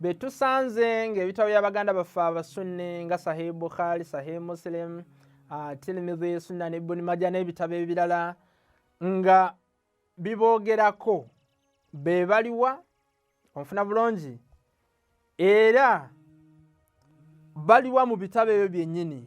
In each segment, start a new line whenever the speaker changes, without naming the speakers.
be tusanze ng'ebitabo bya baganda baffe abasunni nga sahih bukhari sahih muslim uh, tirimidhi sunnani ibuni maja n'ebitabo ebirala nga biboogerako be baliwa onfuna bulungi era baliwa mu bitabo ebyo byennyini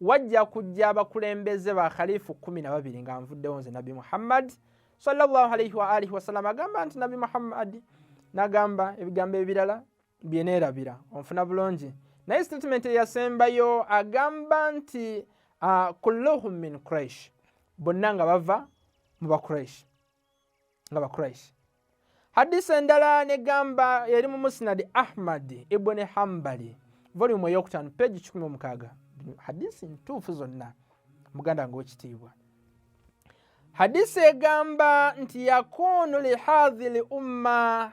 wajja kujja abakulembeze ba khalifu kumi na babiri nga nvuddewo nze nabbi muhammadi sallallahu alaihi wa alihi wasallam agamba nti nabbi muhammadi nagamba ebigambo ebirala byeneerabira onfuna bulungi naye statement eyasembayo agamba nti ah, kulluhum min quraish bonna nga bava mu baquraish nga bakuraishi hadisi endala negamba eri mu musnadi ahmadi ibuni hambali volumu eyokutaano peegi 16 hadisi ntuufu zonna muganda wange wekitiibwa hadisi egamba nti yakunu lihadhi li umma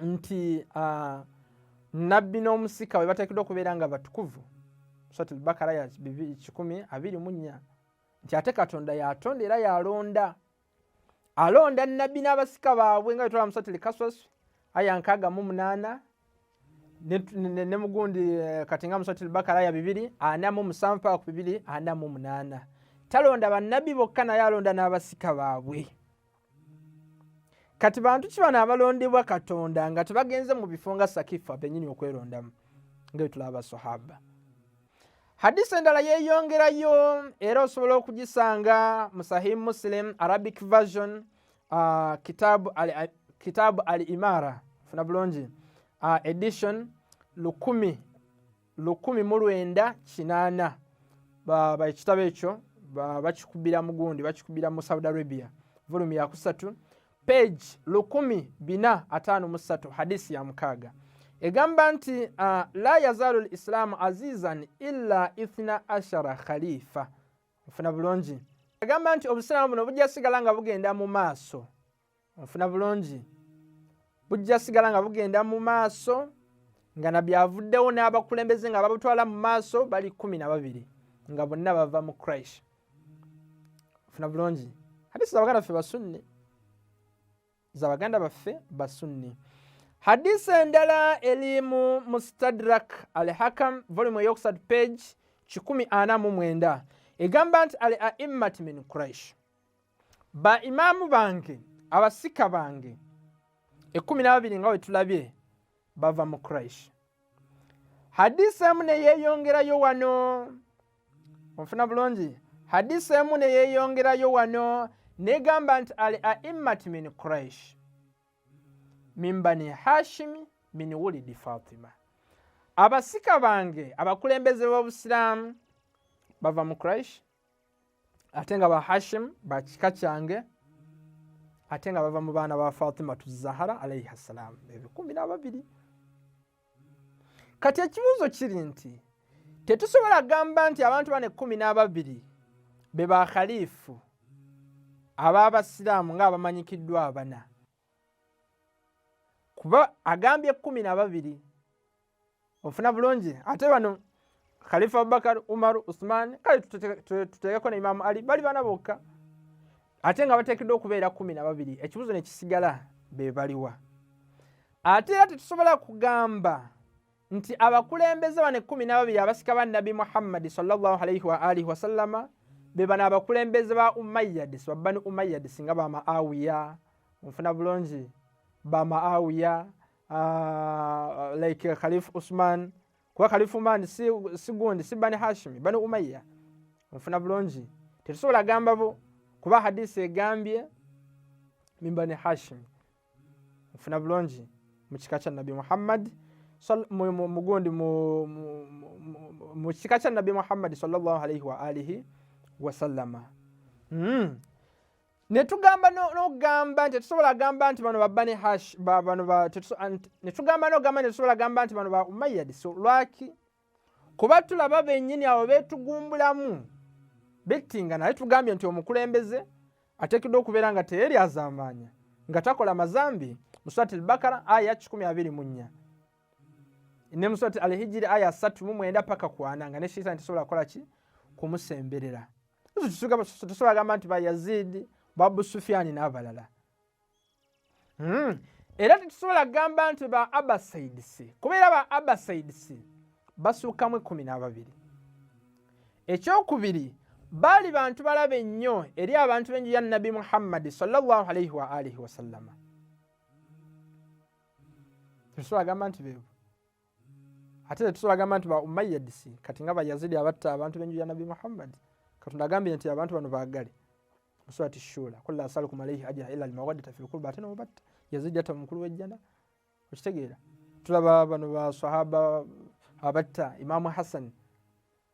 nti uh, nabbi n'omusika we bateekeddwa okubeera nga batukuvu suratul bakara ya kikumi abiri mu nnya nti ate katonda yatonda era yalonda alonda nabbi n'abasika baabwe nga betola musatuli kaswasu aya nkaaga mu munaana ne mugundi eh, kati nga musatuli bakara ya bibiri ana mu musanvu paka ku bibiri ana mu munaana talonda bannabbi bokka naye alonda n'abasika baabwe kati bantu ki bano abalondebwa katonda nga tebagenze mu bifo nga sakifa benyini okwerondamu nga etulaba basahaba hadisi endala yeyongerayo era osobola okugisanga mu sahih muslim arabic version uh, kitabu al imara funa bulungi uh, edition lukumi lukumi mu lwenda kinaana ekitabo ekyo bakikubira mu gundi bakikubira mu saudi arabia volumi yakusatu page lukumi bina ataano mu ssatu hadisi ya mukaaga egamba nti uh, la yazaalu lislaamu azizan illa ithna ashara khalifa ofuna bulungi egamba nti obusiraamu buno bujja sigala nga bugenda mu maaso onfuna bulungi bujja sigala nga bugenda mu maaso nga nabbi avuddewo n'abakulembeze nga babutwala mu maaso bali kumi na babiri nga bonna bava mu christ funa bulungi hadisi zabaganda baffe basunni zabaganda baffe basunni hadisi endala eri mu mustadrak al hakam volume eyokusatu page kikumi ana mu mwenda egamba nti al aimmat min quraish ba imaamu bange abasika bange ekkumi n'ababiri nga wetulabye bava mu kuraishi hadisi emu neyeyongerayo wano onfuna bulungi hadisi emu neyeyongerayo wano negamba nti al aimmat min kuraish min bani hashimi min wulidi fatima abasika bange abakulembeze b'obusiraamu bava mu kuraishi ate nga ba hashim bakika kyange ate nga bava mu baana ba fatimatu zahara alaihi ssalam ebikumi nababiri kati ekibuuzo kiri nti tetusobola gamba nti abantu bano ekkumi n'ababiri be ba khalifu ab'abasiraamu ng'abamanyikiddwa abana kuba agambye ekkumi na babiri ofuna bulungi ate bano khalifa abubakar umar usman kale tuteekeko ne imamu ali bali bana bokka ate nga bateekeddwa okubeera kumi na babiri ekibuzo ne kisigala be baliwa ate era tetusobola kugamba nti abakulembeze bano ekkumi n'ababiri abasika ba nabbi muhammadi salllahalaihi waalihi wasallama be bano abakulembeze ba umayyadis babbani umayyadis nga bamaawiya onfuna bulungi bamaawiya uh, like uh, Khalif Usman kuba Khalif Usman si, si gundi si Bani Hashimi Bani Umayya nfuna bulungi tetusobola gamba bo kuba hadisi egambye min Bani Hashimi nfuna bulungi mu kika kya Nabi Muhammad mugundi mu kika kya Nabi Muhammad sallallahu alaihi wa alihi wasallama mm. netugamba nogamba nti tetusobola gamba nti bano babba ne hash bano netugamba nogamba nti tetusobola gamba nti bano ba umayadi so lwaki kuba tulaba benyini abo betugumbulamu bettinga naye tugambye nti omukulembeze ateekeddwa okubeera nga teyeri azambaanya nga takola mazambi muswati lbakara aya 124 ne muswati alhijiri aya 3 mu mwenda paka kwana nga ne shaitan tesobola kukola ki kumusemberera tusobola gamba nti bayazidi babu sufiani n'abalala hmm. era tetusobola kugamba nti ba abasaids kubeera ba abasaids basuukamu ekkumi n'ababiri ekyokubiri baali bantu balabe nnyo eri abantu b'enju ya nabbi muhammadi salllah alaihi waalihi wasallama tetusobola gamba nti beebo ate tetusobola gamba nti ba umayyadisi kati nga bayazidi abatta abantu benju ya nabbi muhammadi katonda agambye nti abantu bano bagale musurati shura kula asalukum alaihi ajira ila almawaddata fi lkurba ate nomubatta yazidi yatta mumukulu wejjana okitegeera tulaba bano basahaba abatta imamu hasani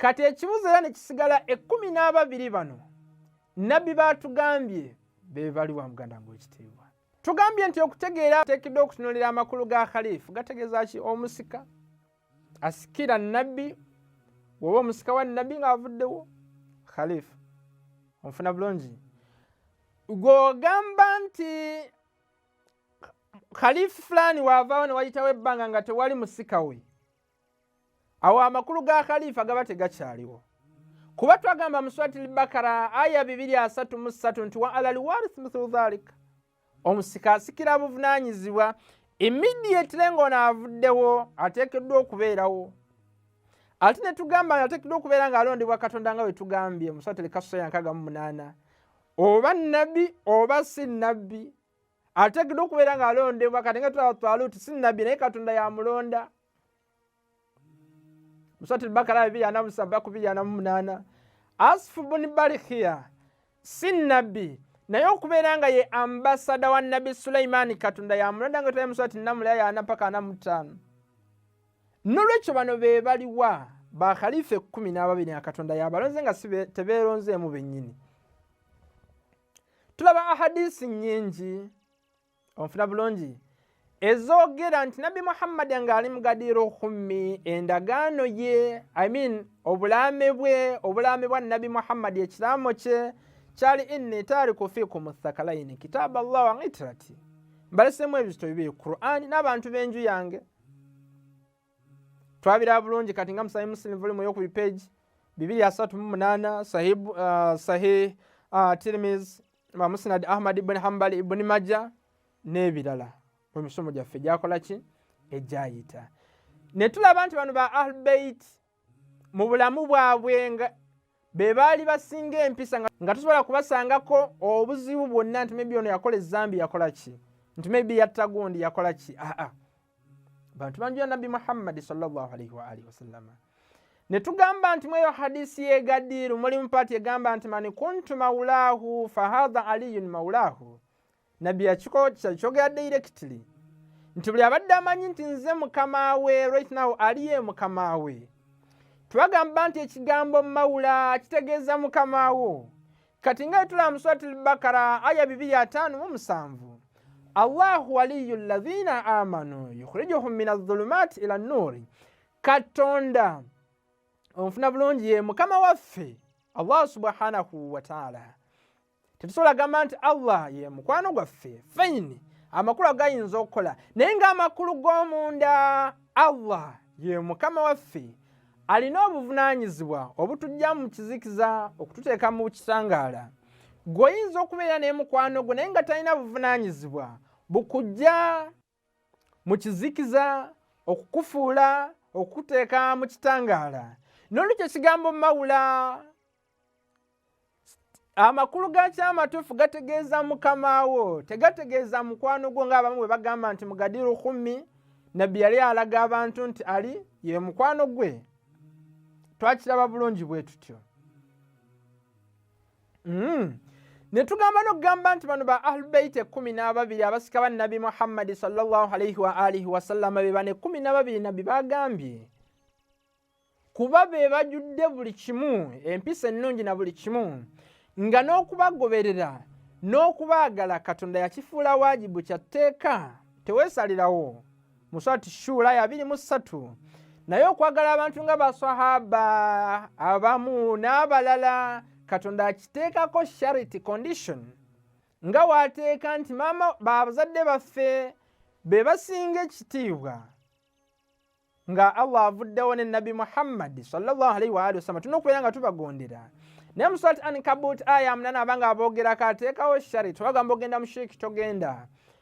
kati ekibuzo era nekisigala ekumi n'ababiri bano nabbi batugambye bebaliwa muganda nga ekitiibwa tugambye nti okutegeera teekiddwa okutunulira amakulu ga khalifu gategeeza ki omusika asikira nabbi woba omusika wa nabbi ngaavuddewo khalifu onfuna bulungi gwogamba nti khalifu fulani waavaawo newayitawo ebbanga nga tewali musika we awo amakulu ga khalifa gaba tegakyaliwo kuba twagamba muswati lbakara aya 233 nti wa ala liwarith mithlu dhalik omusika asikira buvunanyizibwa immediately ngaono avuddewo ateekeddwa okubeerawo ate netugamba ateekeddwa okubeera nga alondebwa katonda nga wetugambye muswati lkasaya 68 oba nabbi oba si nabbi ategedde okubeera nga alondebwa kati nga tulaba twaluti si nabbi naye katonda yamulonda musati lbakara bibiri ana musaba kubiri ana mumunaana asifu buni balikiya si nabbi naye okubeera nga ye ambasada wa nabbi sulaimaani katonda yamulonda nga tulaye musati namulaya yana paka ana mutaano nolwekyo bano be baliwa bakhalifa ekkumi n'ababiri nga katonda yabalonze nga tebeeronzeemu bennyini tulaba ahadisi nyingi onfuna bulungi ezoogera nti nabbi muhammadi nga ali mugadiira okummi endagaano ye i mean obulaame bwe obulaame bwa nabbi muhammadi ekiraamo kye kyali inni taariku fiikum thakalaini kitaaba llah wa itirati mbalesemu ebizito bibiri qurani n'abantu b'enju yange twabira bulungi kati nga musahi muslim volume yokubi page bibiri asatu mu munana sahih uh, sahih uh, tirmiz ma musnad ahmad ibn hanbal ibn majja n'ebirala mu misomo gyaffe gyakola ki egyayita ne tulaba nti bano ba ahlbeit mu bulamu bwabwe nga be baali basinga empisa nga tusobola kubasangako obuzibu bwonna nti maybe ono yakola ezambi yakola ki nti maybe yatta gundi yakola ki aa bantu bangi ya nabbi muhammadi salllahalaihi waalihi wasallama ne tugamba nti mweyo hadisi yegadiru mulimu paati egamba nti mani kuntu maulahu fahadha aliyun maulahu nabbi yakikookya kyogera directly nti buli abadde amanyi nti nze mukama we right now aliye mukama we twagamba nti ekigambo mawula kitegeeza mukama wo kati nga etula muswati lbakara aya bibiri ataano mu musanvu allahu waliyu lazina amanu yukhrijuhum min azulumat ila nuuri katonda omufuna bulungi ye mukama waffe allah subhanahu wataala tetusobola gamba nti allah ye mukwano gwaffe fayini amakulu agayinza okukola naye ngaamakulu g'omunda allah ye mukama waffe alina obuvunaanyizibwa obutujja mu kizikiza okututeeka mu kisangaala gweoyinza okubeera n'emukwano gwo naye nga talina buvunaanyizibwa bukujja mu kizikiza okukufuula okukuteeka mu kitangaala n'olwekyo ekigambo mawula amakulu gaki amatuufu gategeeza mukama wo tegategeeza mukwano gwo ngaabamu bwe bagamba nti mugadiru khumi nabbi yali alaga abantu nti ali ye mukwano gwe twakiraba bulungi bwe tutyo mm. ne tugamba nokugamba nti bano ba ahlubeit ekumi n'ababiri abasika ba nabbi muhammadi salllah alaihi waalihi wasallama be bano ekumi n'ababiri nabbi bagambye kuba be bajudde buli kimu empisa ennungi na buli kimu nga n'okubagoberera n'okubaagala katonda yakifuula waajibu kya tteeka teweesalirawo mu swati shuula ya biri mu ssatu naye okwagala abantu nga baswahaba abamu n'abalala katonda akiteekako sharity condition nga waateeka nti maama babazadde baffe be basinga ekitiibwa nga allah avuddewo ne nabbi muhammadi salllahalaihi waali wasallama tulina okubeera nga tubagondera naye muswat ankabut aya munana abanga aboogerako ateekawo sharity wagamba ogenda mushiiki togenda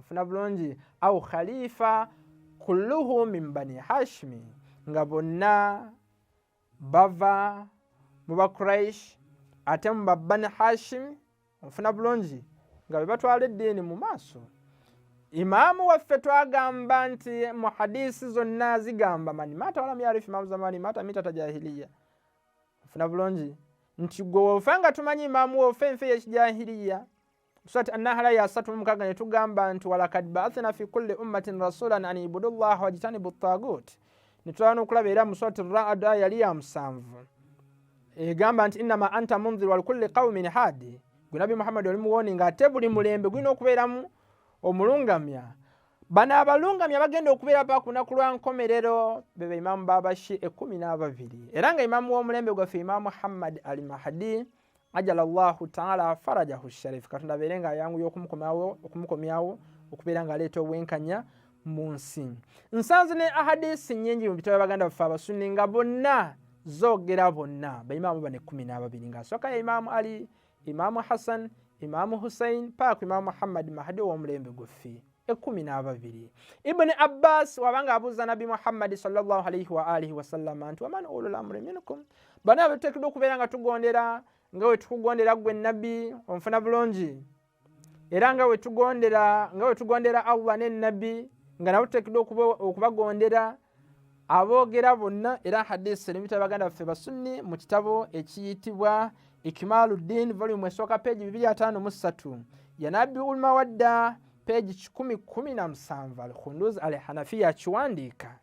ofuna bulungi au khalifa kulluhu min bani hashimi nga bonna bava mu bakuraish ate mu babani hashimi ofuna bulungi nga bebatwala eddiini mu maaso imaamu waffe twagamba nti mu hadisi zonna zigamba mani mata walam yarifu imaamu zamani mata mitata jahiliya ofuna bulungi nti gwe wofa nga tumanyi imaamu wofa enfe yekijahiliya Surati An-Nahl ya asatu mu mukaaga ne tugamba nti walakad ba'athna fi kulli ummatin rasulan an ibudu llaha wajtanibu ttagut ne tulaba n'okulaba era mu surati Ra'd aya yali ya musanvu egamba nti innama anta munzir walikulli qaumin hadi gwe nabbi muhammadi oli muwoni nga ate buli mulembe gulina okubeeramu omulungamya bano abalungamya bagenda okubeera pa ku lunaku lwa nkomerero beba imaamu babashi ekumi n'ababiri era nga imaamu w'omulembe gwaffe imaamu muhammadi al mahdi ajala llahu taala farajahu sharif katonda abeere nga ayanguya okumukomyawo okubeera nga aleeta obwenkanya mu nsi nsanze ne ahadisi nyingi mu bitabo baganda baffe abasunni nga bonna zogera bonna baimaamu bane kumi n'ababiri nga asooka ya imaamu ali imaamu hassan imaamu hussein paaku imaamu muhammadi mahadi ow'omulembe guffi ekumi n'ababiri ibuni abbas wabanga abuuza nabbi muhammadi salllah alaihi waalihi wasallama nti waman ulul amuri minkum bana abetuteekeddwa okubeera nga tugondera nga wetukugondera gwe nabbi onfuna bulungi era nga wetugondera nga wetugondera allah ne nabbi nga nabo tuteekeddwa okubagondera okuba aboogera bonna era hadisi eri mubitabo baganda baffe basunni mu kitabo ekiyitibwa ikimalu ddin volumu esooka peegi bibiri ataano mu ssatu yanabbi ulma wadda peegi kikumi kumi na musanvu al khunduz al hanafiya akiwandiika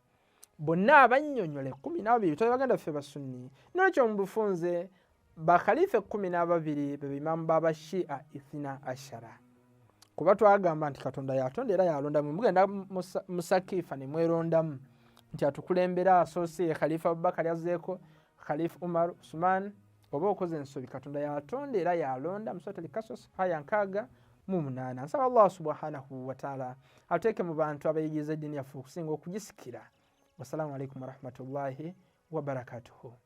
bonna abannyonyola ekumi nababiri bitabo baganda baffe basunni nolwekyo mu bufunze bakhalifa ekkumi n'ababiri be bimaamu babashia ithina ashara kuba twagamba nti katonda yatonda era yalondamu mugenda musakifa nemwerondamu nti atukulembera asoose ye khalifa abubakari azeeko khalifa umar usman oba okoze ensobi katonda yatonda era yalonda musatalikasas haya nkaaga mu munaana nsaba allah subhanahu wataala ateeke mu bantu abayigiriza eddiini yaffe okusinga okugisikira wassalamu alaikum warahmatullahi wabarakatuhu